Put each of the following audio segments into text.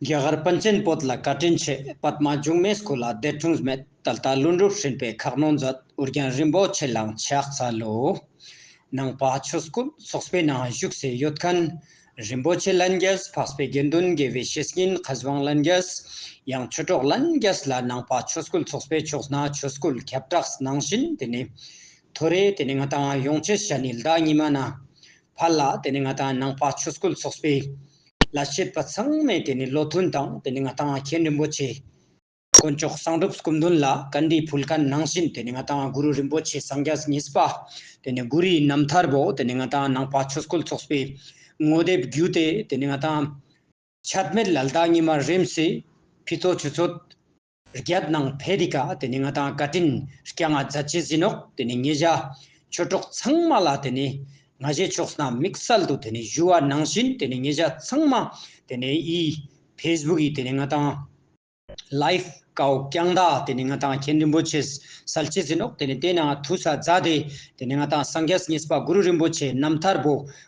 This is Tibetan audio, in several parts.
རྒྱ་གར་པཎ་ཆེན་བོད་ལ་བཀའ་དྲིན་ཆེ་པདྨ་འབྱུང་གནས་སྐུ་ལ་བདེ་འཁྲུངས་སྨད་ད་ལྟ་ཀླུ་འབྲུག་ཧྲིལ་པའི་ཁག་རྣོ་མཛད་འུར་རྒྱན་རིན་པོ་ཆེ་ལང་ཕྱག་ཚ་ལོའུ་ནང་པ་ཆོས་སྐུ་སོགས་པའི་ནང་བཞུགས་སའི་ཡོད་མཁན་རིན་པོ་ཆེ་ལན་རྒྱས་འཕགས་པའི་དགེ་འདུན་དགེ་བའི་བཤེས་གཉེན་བཀའ་བཟང་ལན་རྒྱས་ཡང་ཆོས་གྲོགས་ལན་རྒྱས་ལ་ནང་པ་ཆོས་སྐུ་སོགས་པའི་ཕྱོགས་ན་ཆོས་སྐུ་ཁྱབ་བསྒྲགས་གནང་བཞིན་དེ་ནས་ཐོ་རེ་དེ་ནས་ང་དང་ཡོངས་ཆེ་ཤ་ནི་ཟླ་གཉིས་མ་ན་བར་ལ་དེ་ནི་ང་དང་ནང་པ་ཆོས་སྐུ་ཚོགས་པའི་ལ་བྱེད་པ་ཚང་མས་དེ་ནི་བློ་མཐུན་དང་དེ་ནི་ང་དང་མཁན་རིན་པོ་ཆེ། དཀོན་མཆོག་གསང་སྒྲུབ་སྐུ་མདུན་ལ་ག་འདྲིའི་ཕུལ་དཀའ་ནང་བཞིན་དེ་ནི་ང་དང་གུ་རུ་རིན་པོ་ཆེ་སངས་རྒྱས་ཉིད་པ། དེ་ནི་གུ་རུའི་རྣམ་ཐར་བོ་དེ་ནི་ང་དང་ནང་པ་ཆོས་སྐུ་ཚོགས་པའི་ངོ་དེབ་བརྒྱུད་དེ་དེ་ནི་ང་དང། ཆད་མེད་ལ་ལྡག་ཉི་མ་རིམ་བྱེད་ཕུད་ཚོགས་ཆུ་ཚོད། རྒྱབ་ནང་བྷེ་རི་ཀ་དེ་ནི་ང་དང་བཀའ་དྲིན་སྐྱ་ལྔ་རྫ་ཆེ་ཟིན་ཨོག་དེ་ནི་ངེད་བཞའ་ཁྱོད་གྲོགས་ཚང་མ་ལ་དེ་ནི་ང་བཞའི་ཕྱོགས་ན་མིག་གསལ་དུ་དེ་ནི་བཞུ་བ་ནང་བཞིན་དེ་ནི་ངེད་བཞའ་ཚང་མ་དེ་ནི་ཡི facebook ཡི་དེ་ནི་ང་དང life ཀའོ་རྐྱང་མདའ་དེ་ནི་ང་དང་མཁན་རིན་པོ་ཆེ་ཟལ་ཆེ་ཟིན་ཨོག་དེ་ནི་བལྟས་ན་ཐུ་ས་རྫ་དེ་དེ་ནི་ང་དང་སངས་རྒྱས་ཉེས་པ་གུ་རུ་རིན་པོ་ཆེ་རྣམ་ཐར་བུ་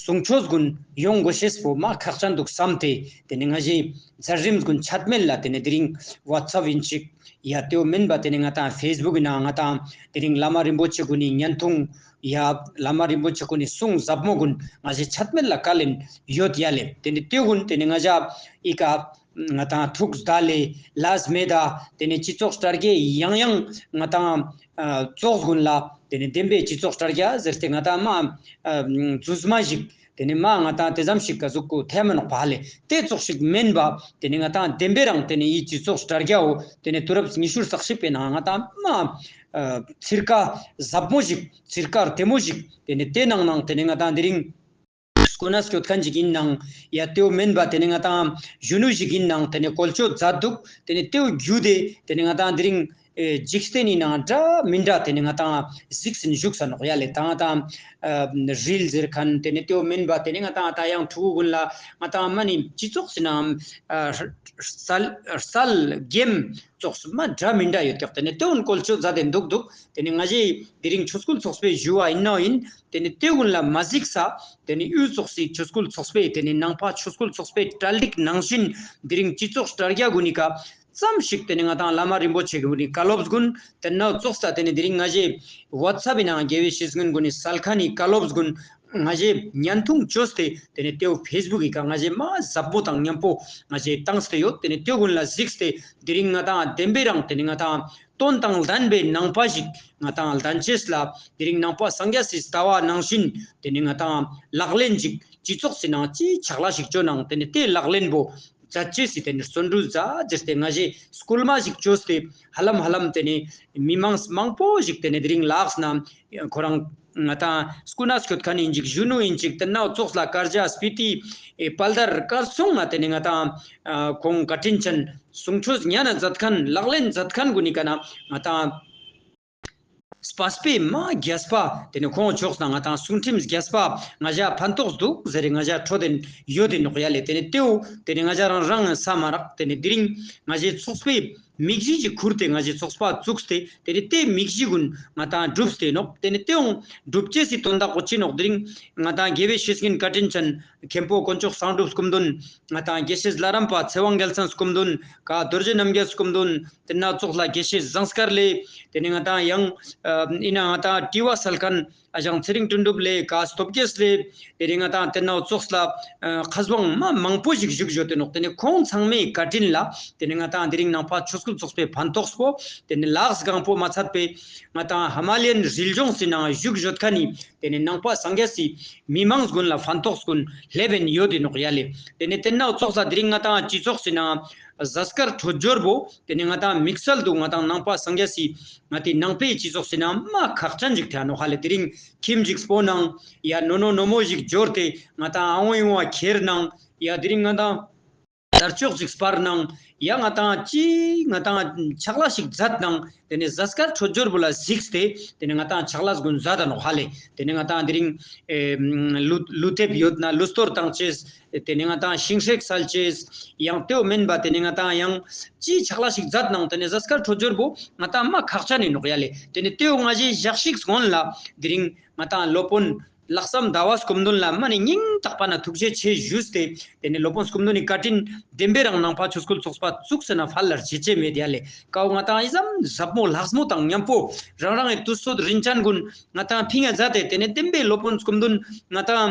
གཟུངས་ཆོས་དགོན་ཡོངས་སྒོ་ཤེས་པོ་མ་ཁག་ཅག་འདུག་བསམ་སྟེ་དེ་ནས་ང་གཞན་རྫ་རིམས་དགོན་ཆགས་མེད་ལ་དེ་ནས་དེ་རིང WhatsApp ཡིན་ཅིག་ཡ་དེའོ་མིན་པ་དེ་ནས་ང་དང Facebook ཡིན་ནའང་ང་དང་དེ་རིང་བླ་མ་རིན་པོ་ཆེ་དགོན་ནས་བརྙན་ཐུང་ཡ་བླ་མ་རིན་པོ་ཆེ་དགོན་ནས་གསུང་ཟབ་མོ་དགོན་ང་གཞན་ཆགས་མེད་ལ་བཀའ་ལན་ཡོད་ཡ་ལེ་དེ་ནས་སྟོད་དགོན་དེ་ནས་ང་བཞག་ཨི་ཀ། ང་དང་ཐུགས་བདག་ལས་ལྷས་མེད་ད། དེ་ནས་སྤྱི་ཚོགས་སྤྲ་རྒྱལ་ཡང་ཡང། ང་དང། ཙོག་དགོན་ལ། དེ་ནས་བདེན་པའི་སྤྱི་ཚོགས་སྤྲ་རྒྱལ་ཟེར་ཏེ་ང་དང་མ། རྫུས་མ་ཞིག། དེ་ནས་མ་ང་དང་དེ་ཙམ་ཞིག་ག་ཟུག་གུ་ཐལ་མོ་ནག་བ་ལས་ཏེ་ཙོག་ཞིག་སྨན་པ། དེ་ནས་ང་དང་བདེན་པའི་རང་དེ་ནས་ཡི་སྤྱི་ཚོགས་སྤྲ་རྒྱལ་འོ། དེ་ནས་དུས་རབས་ཉི་ཤུར་ཟག་ཞིག་པའི་ནང་ང་དང་མ། ཚིར་ཀ། ཟབ་མོ་ཞིག། ཚིར་ཀར་དེ་མོ་ཞིག། དེ་ནས་དེ་ནང་ནང་དེ་ནས་ང་དང་དེ་རིང། སྐུ་ན་སྐྱོ་ཐལ་འཇིག་ཡིན་ནང་ཡ་རྟེའུ་མིན་པ་དེ་ནི་ང་དང་གཞོན་ནུ་ཞིག་ཡིན་ནང་དེ་ནི་གོལ་ཅོ་རྫ་འདུག་དེ་ནི་རྟེའུ་རྒྱུ་དེ་དེ་ནི་ང་དང་དེ་རིང། འཇིག་རྟེན་ནི་ནང་འདྲ་མི་འདྲ་དེ་ནི་ང་དང་གཟིགས་ཟིན་བཞུགས་ས་ནོག་ཡ་ལས་དང་དང། རིལ་ཟེར་ཁན་དེ་ནི་རྟེའུ་མིན་པ་དེ་ནི་ང་དང་ད་ཡང་ཕྲུ་གུ་དགུན་ལ་ང་དང་མ་ནི་སྤྱི་ཚོགས་སུ་ནང་སལ་རྒྱེམ་ཚོགས་སུ་མ་འདྲ་མི་འདྲ་ཡོད་ཏེག་དེ་ནི་རྟེའུ་གོལ་ཅོ་རྫ་དེ་འདུག་འདུག་དེ་ནི་ང་ཞིག་དེ་རིང་ཆུ་སྐོལ་ཚོགས་པའི་བཞུ་བ་ཡིན་ནོ་ཡིན་དེ་ནི་སྟེས་དབུས་ལ་མ་གཟིགས་ས། དེ་ནི་གཡུལ་ཚོགས་སྲིད་ཆོས་སྐུལ་ཚོགས་པས་དེ་ནི་ནང་ཕ་ཆོས་སྐུལ་ཚོགས་པས་གྲལ་འགྲིག་ནང་བཞིན། འདི་རིང་སྤྱི་ཚོགས་དྲྭ་རྒྱ་དགུ་ནི་ཀ། ཙམ་ཞིག་དེ་ནི་ང་དང་བླ་མ་རིན་པོ་ཆེ་དགུ་ནི་ཀ་སློབ་དགུན། དེ་ནི་ནག་ཚོགས་ས་དེ་ནི་འདི་རིང་ང་བཞི། བྷ་ཚ་བི་ནང་རྒྱལ་བའི་ཤིས་དགུན་དགུ་ནི་སལ་ཁ་ནི་ཀ་སློབ་དགུན། ང་བཞི། ཉན་ཐུང་ཅོ་སྟེ་དེ་ནི་སྟེས་དབུས་ཕེས་སྦུག་གི་ཀ་ང་བཞི་མ་ཟབ་པོ་དང་མཉམ་པོ་ང་བཞི་དང་སྟེ་ཡོད་དེ་ནི་སྟེས་དབུས་ལ་གཟིགས་སྟེ་འདི་རིང་ང་དང་བདེན་པའི་རང་དེ་ནི་ང་དང། སྟོན་དང་ལྡན་པའི་ནང་པ་ཞིག་ང་དང་ལྡན་ཆེས་ལ་དེ་རིང་ནང་པ་སངས་རྒྱ་སེ་ཟླ་བ་ནང་བཞིན་དེ་ནི་ང་དང་ལག་ལེན་ཅིག་སྤྱི་ཚོགས་སེ་ནང་སྤྱི་ཆགས་ལ་ཞིག་བྱོས་ནང་དེ་ནི་དེ་ལག་ལེན་པོ་རྫ་ཆེས་སེ་དེ་ནི་བརྩོན་འགྲུས་རྫ་རྗེས་དེ་ང་བཞི་སྐུལ་མ་ཞིག་བྱོས་སེ་ཧ་ལམ་ཧ་ལམ་དེ་ནི་མི་མང་མང་པོ་ཞིག་དེ་ནི་དེ་རིང་ལགས་ན་ཁོ་རང་ང་དང་སྐུ་ན་ཆོད་ཁ་ནས་འཇིགས་གཞོན་ནུ་ཡིན་ཅིག་ཏི་ནག་ཙོག་ལྷ་དཀར་འཇའ་སྤི་ཏི་དཔལ་དར་དཀར་སོང་ང་དེ་ནས་ང་དང་ཁོང་བཀའ་དྲིན་ཆེན་སུང་ཁྲོ་ཟི་ཉན་མཛད་ཁན་ལག་ལེན་མཛད་ཁན་གུ་ནི་ཀ་ན་ང་དང་སྤ་སྤེ་མ་རྒྱལ་སྤ་དེ་ནས་ཁོང་ཕྱོགས་སང་ང་དང་སུང་ཁྲིམ་ཟི་རྒྱལ་སྤ་ང་བཞའ་ཕན་ཏོགས་འདུག་ཟེ་རེ་ང་བཞའ་ཁྲོ་དེ་ཡོད་དེ་ནོག་ཡ་ལེ་དེ་ནས་ཏེའུ་དེ་ནས་ང་བཞའ་རང་རང་ས་མ་རག་དེ་ནས་དི་རིང་ང་བཞའི་ཚོགས་སྤེ། མིག་བཞི་གཅིག་ཁུར་ཏེ་ང་བཞི་ཚོགས་པ་བཙུགས་ཏེ་དེ་རིང་སྟེ་མིག་བཞི་ཀུན་ང་དང་བསྒྲུབས་ཏེ་ནོག་དེ་ནས་སྟེའུ་སྒྲུབ་སྐྱེ་སྲིད་དོན་དག་པོ་ཅི་ནོག་དེ་རིང་ང་དང་དགེ་བའི་བཤེས་གཉེན་བཀའ་དྲིན་ཅན་མཁན་པོ་དཀོན་མཆོག་བསང་སྒྲུབ་སྐུ་མདུན་ང་དང་དགེ་བཤེས་བླ་རམས་པ་ཚེ་དབང་རྒྱལ་མཚན་སྐུ་མདུན་ཀ་རྡོ་རྗེ་རྣམ་རྒྱལ་སྐུ་མདུན་དེ་སྣ་ཚོགས་ལ་དགེ་བཤེས་བཟང་སྐར་ལས་དེ་ནས་ང་དང་ཡང་ཨི་ན་ང་དང་བཀྲིས་བ་སལ་ཁན། ཨ་ཞང་ཚེ་རིང་སྤྲིན་སྒྲུབ་ལས་ཀ་སྟོབས་རྒྱལ་ལས་དེ་རིང་ང་དང་དེ་ནང་ཙོགས་ལ་ཁ་བཟང་མ་མང་པོ་ཞིག་བཞུགས་ཡོད་དེ་ནོག་དེ་ནི་ཁོང་ཚང་མའི་བཀའ་དྲིན་ལ་དེ་ནི་ང་དང་དེ་རིང་ནང་ཕ་ཆོས་སྐུལ་ཙོགས་པའི་ཕན་ཐོགས་སོ་དེ་ནི་ལགས་སྒང་པོ་མ་ཚར་པའི་ང་དང་ཧ་མ་ལེན་རིལ་ལྗོངས་སི་ནང་བཞུགས་ཡོད་ཁ་ནི་དེ་ནི་ནང་ཕ་སངས་རྒྱ་སི་མི་མང་སྒོན་ལ་ཕན་ཐོགས་སྒོན་ལྷས་བན་ཡོད་དེ་ནོག་ཡ་ལས་དེ་ནི་དེ་ནག་ཙོགས་ལ་དེ་རིང་ང་དང་སྤྱི་ཚོགས་སི་ནང་གཟའ་སྐར་འཕྲོ་སྦྱོར་བོ་དེ་ནས་ང་ད་མིག་སལ་འདུག་ང་དང་ནང་པ་སངས་རྒྱ་སི། ང་དེ་ནང་པའི་སྤྱི་ཚོགས་སི་ན་མ་ཁག་ཅ་འཇིག་ཐལ་ནོ་ཧ་ལས་དེ་རིང་ཁིམ་འཇིགས་སྤོ་གནང། ཡ་ནོ་ནོ་ནོ་མོ་ཞིག་འབྱོར་ཏེ་ང་དང་ཨ་འོན་ཡོང་བ་ཁྱེར་གནང། ཡ་དེ་རིང་ང་དང། དར་ཅོག་ཅིག་སྤར་གནང། ཡ་ང་དང་ཅི། ང་དང་ཆག་ལ་ཞིག་བཟའ་གནང། དེ་ནས་བཟའ་སྐར་འཕྲོ་སྦྱོར་བུ་ལ་གཟིགས་ཏེ། དེ་ནས་ང་དང་ཆག་ལ་གཟུགས་འཛ་ད་ནོ་ཧ་ལས་དེ་ནས་ང་དང་དེ་རིང། ལུས་ལུས་ཐེབས་ཡོད་ན་ལུས་སྟོར་དང་བཅས། དེ་ནི་ང་དང་ཤིང་ཧྲེག་སལ་ཅེས། ཡང་ལྟོས་མིན་པ་དེ་ནི་ང་དང་ཡང། ཅེས་ཕྱག་ལ་ཞིག་བརྫད་ནང་དུ་ནི་གཟའ་སྐར་ཁྲོ་ཇོར་བུ། ང་དང་རྨ་ཁག་ཆ་ནི་ནོག་ཡ་ལེ། དེ་ནི་ལྟོས་ང་བཞིན་བཞག་ཤིག་གཟོན་ལ། དེ་རིང་ང་དང་སློབ་དཔོན། ལྷག་བསམ་ཟླ་བ་སྐུ་མདུན་ལ་རྨ་ནི་སྙིང་དྲག་པ་ན་ཐུགས་རྗེ་ཆེ་བཞུས་ཏེ། དེ་ནི་སློབ་དཔོན་སྐུ་མདུན་ནི་བཀའ་དྲིན་ལྡན་པས་རང་སྣང་ཕ་ཆོས་སྐུལ་ཚོགས་པ་བཙུགས་ཟེར་ན་ཕར་ལར་བྱེད་ཆེད་མེད་ཡ་ལེ། ཀའོ་ང་དང་ཨི་ཟམ་ཟབ་མོ་ལྷགས་མོ་དང་མཉམ་པོ། རང་རང་གི་དུར་སོད་རིན་ཆེན་ཀུན། ང་དང་ཕི་ངེ་བཟའ་སྟེ་དེ་ནི་བསྟན་པའི་སློབ་དཔོན་སྐུ་མདུན། ང་དང།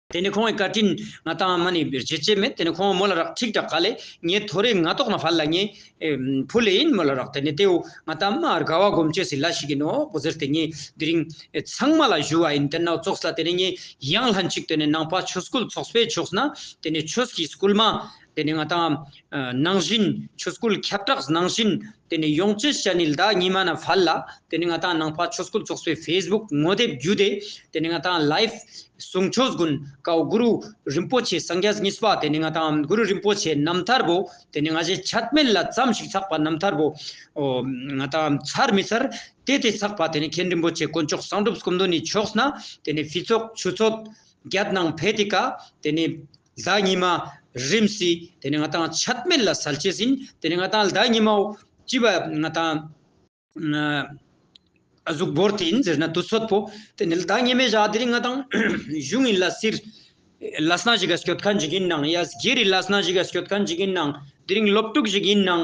དེ་ནས་ཁོང་གིས་བཀའ་དྲིན། ང་དང་མ་ནི་བརྗེད་བྱེད་མེད་དེ་ནས་ཁོང་མོ་ལ་རག་ཁྲིག་དྲག་ག་ལས། ངའི་ཐོ་རེ་ང་ཏོག་ན་བར་ལ་ངའི། བུ་ལས་ཡིན་མོ་ལ་རག་དེ་ནས་དེའུ་ང་དང་མ་རྒ་བ་སྒོམ་སྤྱོད་སི་ལ་ཞིག་གི་ནོ་བོ་ཟེར་དེ་ངའི་དེ་རིང། ཚང་མ་ལ་བཞུ་བ་ཡིན་དེ་ནོ་ཙོགས་ལ་དེ་ནས་ངའི་ཡང་ལྷན་ཅིག་དེ་ནས་ནང་པ་ཆོས་སྐུལ་ཚོགས་པའི་ཕྱོགས་ན་དེ་ནས་ཆོས་ཀྱི་སྐུལ་མ། དེ་ནས་ང་དང། ནང་བཞིན་ཆོས་སྐུལ་ཁྱབ་བསྒྲགས་ནང་བཞིན། དེ་ནས་ཡོངས་སྤྱི་ཞལ་ནི་ཟླ་གཉིས་མ་ན་བྷལ་ལ། དེ་ནས་ང་དང་ནང་བྷལ་ཆོས་སྐུལ་ཚོགས་པའི Facebook ངོ་དེབ་བརྒྱུད་དེ། དེ་ནས་ང་དང Live ཟུང་ཆོས་དགོན་ཀའོ་གུ་རུ་རིན་པོ་ཆེ་སངས་རྒྱས་གཉིས་པ་དེ་ནས་ང་དང་གུ་རུ་རིན་པོ་ཆེ་རྣམ་ཐར་བོ། དེ་ནས་ང་བཞིན་ཆད་མེད་ལ་བརྩམས་ཤིག་ཚགས་པ་རྣམ་ཐར་བོ། ང་དང་མཚར་མི་མཚར་དེ་དེ་ཚགས་པ་དེ་ནས་མཁན་རིན་པོ་ཆེ་དཀོན་མཆོག་གསང་སྒྲུབ་སྐུ་མདོ་ནས་ཕྱོགས་ན། དེ་ནས་བྷི་ཚོགས་ཆུ་ཚོད་བརྒྱད་ནང་བྷེ་ཏི་ཀ། དེ་ནས་ཟླ་གཉིས་མ། རིམས་སྲི། དེ་ནས་ང་དང་ཆད་མེད་ལ་ཟལ་བྱས་ཟིན། དེ་ནས་ང་དང་ཟླ་གཉིས་མའོ། ཅི་བ། ང་དང། གཟུགས་འབོར་དེ་ཡིན་ཟེར་ན་དུ་ཚོད་པོ། དེ་ནས་ཟླ་གཉིས་མའི་ཞག་དེ་རིང་ང་དང། གཞུང་ཡིན་ལ་སིར། ལ་སྣ་ཞིག་ག་སྐྱོད་ཁ་འཇིག་ཡིན་ནང། ཡ། སྒེར་ཡིན་ལ་སྣ་ཞིག་ག་སྐྱོད་ཁ་འཇིག་ཡིན་ནང། དེ་རིང་སློབ་ཕྲུག་ཞིག་ཡིན་ནང།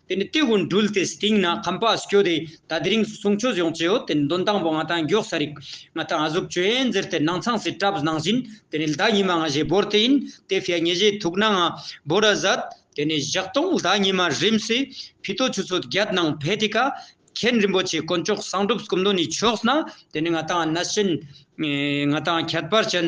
དེ་ནས་སྟེགས་བུ་འདྲུལ་ཏེ་སྟེང་ན་ཁང་པ་བསྐྱོད་དེ་ད་དེ་རིང་གསུང་ཆོས་སྦྱོང་བྱེད་འོ་དེ་འདོན་སྟངས་པོ་ང་དང་མགྱོགས་ས་རིག་ང་དང་གཟུགས་བྱོན་འཛེར་དེ་སྣང་ཚངས་སེ་བཀྲབས་གནང་བཞིན་དེ་ནས་ལྡ་ཉི་མ་ང་བཞེད་བོར་དེ་ཡིན་དེ་ཕྱི་ཉི་བཞེད་ཐུག་ན་ང་བོར་ར་ཟད་དེ་ནས་བཞག་སྟོང་ལྡ་ཉི་མ་རིམ་སེ་ཕི་ཏོ་ཆུ་ཚོད་བརྒྱད་ནང་བྷེ་ཏི་ཀ་མཁན་རིན་པོ་ཆེ་དཀོན་མཆོག་གསང་སྒྲུབ་སྐུ་མདོ་ནས་ཕྱོགས་ན་དེ་ནས་ང་དང་གནས་ཆེན་ང་དང་ཁྱད་པར་ཅན།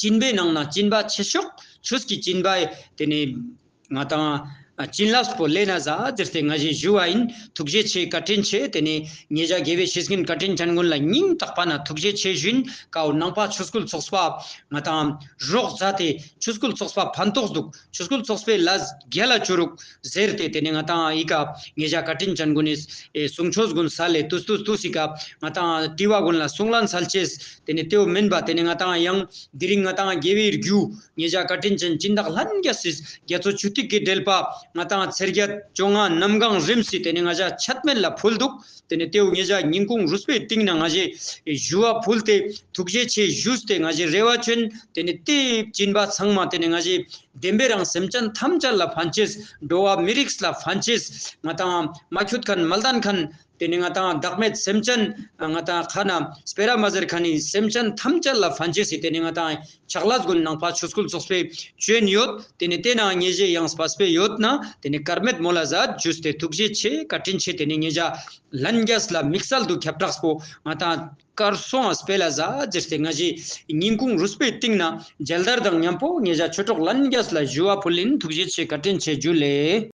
བྱིན་པའི་ནང་ན་སྤྱིན་པ་ཆེ་ཤོག་ཆོས་ཀྱི་སྤྱིན་པ། དེ་ནས་ང་དང། བྱིན་རླབས་པོ་ལེ་ན་བཟའ་དེ་སྟེ་ང་བཞིན་བཞུགས་བ་ཡིན། ཐུགས་རྗེ་ཆེའི་བཀའ་དྲིན་ཆེ་དེ་ནས། ངེད་ཅག་དགེ་བའི་བཤེས་གཉེན་བཀའ་དྲིན་ཅན་ཀུན་ལ་སྙིང་ཐག་པ་ན་ཐུགས་རྗེ་ཆེ་བཞིན་ཀའོ་ནང་པ་ཆོས་སྐུལ་ཚོགས་པ། ང་དང། རོགས་བཟའ་དེ་ཆོས་སྐུལ་ཚོགས་པ་ཕན་ཐོགས་འདུག་ཆོས་སྐུལ་ཚོགས་པའི་ལ་རྒྱ་ལ་བྱོ་རུག། ཟེར་ཏེ་དེ་ནས་ང་ཏང་ཨི་ཀ་ངེད་ཅག་བཀའ་དྲིན་ཅན་དགོན་ནས་གཟུང་ཆོས་དགོན་ས་ལེ་ཏུ་ཏུ་ཞིག་སྐབས་ང་ཏང་ཀྲི་བ་དགོན་ལ་གསུང་བླ་མཚལ་བྱེད་དེ་ནས་ཏེའུ་མིན་པ་དེ་ནས་ང་ཏང་གཡང་དེ་རིང་ང་ཏང་རྒྱལ་བའི་རྒྱུ་ངེད་ཅག་བཀའ་དྲིན་ཅན་སྤྱིན་བདག་ལྷན་རྒྱ་སྲིད་རྒྱ་མཚོ་ཆུ་ཐིགས་ཀྱི་དྲེལ་པ་ང་ཏང་ཚེར་རྒྱ་བཅོ་ལྔ་གནམ་གང་རིམ་སྲིད་དེ་ནས་ང་ཅག་ཆད་མེད་ལ་ཕུལ་འདུག་དེ་ནས་ཏེའུ་ངེད་ཅག་ཉིན་གུང་རུ་སྤོས་སྟེང་ན་ང་བཞི་བཞུ་བ་ཕུལ་ཏེ་ཐུགས་རྗེ་ཆེ་བཞུས་ཏེ་ང་བཞི་རེ་བ་བྱོན་དེ་ནས་ཏེའུ་སྤྱིན་པ་ཚང་མ་དེ་ནས་ང་བཞི་བདེན་པའི་རང་སེམས་ཅན་ཐམས་ཅད་ལ་ཕན་ཆེད། འགྲོ་བ་མི་རིགས་ལ་ཕན་ཆེད། ང་དང་མ་འཁྱུད་མཁན་མ་བསྡད་མཁན། དེ་ནི་ང་དང་བདག་མེད་སེམས་ཅན། ང་དང་ཁ་ན་སྤེ་ར་མ་ཟེར་མཁན་ནི་སེམས་ཅན་ཐམས་ཅད་ལ་ཕན་ཆེད། དེ་ནི་ང་དང་ཆགས་ལྷ་དགོན་ནང་ཕ་ཆོས་སྐུལ་ཚོགས་པའི་བྱོན་ཡོད། དེ་ནི་བལྟས་ན་ངེས་བཞེས་ཡང་སྤ་སྤེ་ཡོད། ན་དེ་ནི་དཀར་མེད་མོ་ལ་བཟའ་བཅུས་ཏེ་ཐུགས་རྗེ་ཆེ་བཀའ་དྲིན་ཆེ་དེ་ནི་ངེད་ཅག་ལྷན་རྒྱས་ལ་དམིགས་བསལ་དུ་ཁྱབ་བསྒྲགས་པོ་ང་དང། ཀར་སོང་ཨ་སྤེ་ལ་བཟའ་རྫི་སྟེ་སྔ་ཕྱི་ཉིན་གུང་རུས་སྤོས་བཏིང་ན་མཇལ་དར་དང་མཉམ་པོ་ངེད་ཅག་ཆོས་གྲོགས་ལྷན་རྒྱས་ལ་བཞུ་བ་ཕུལ་ལེན་ཐུགས་རྗེ་ཆེ་བཀའ་དྲིན་ཆེ་རྒྱུ་ལས།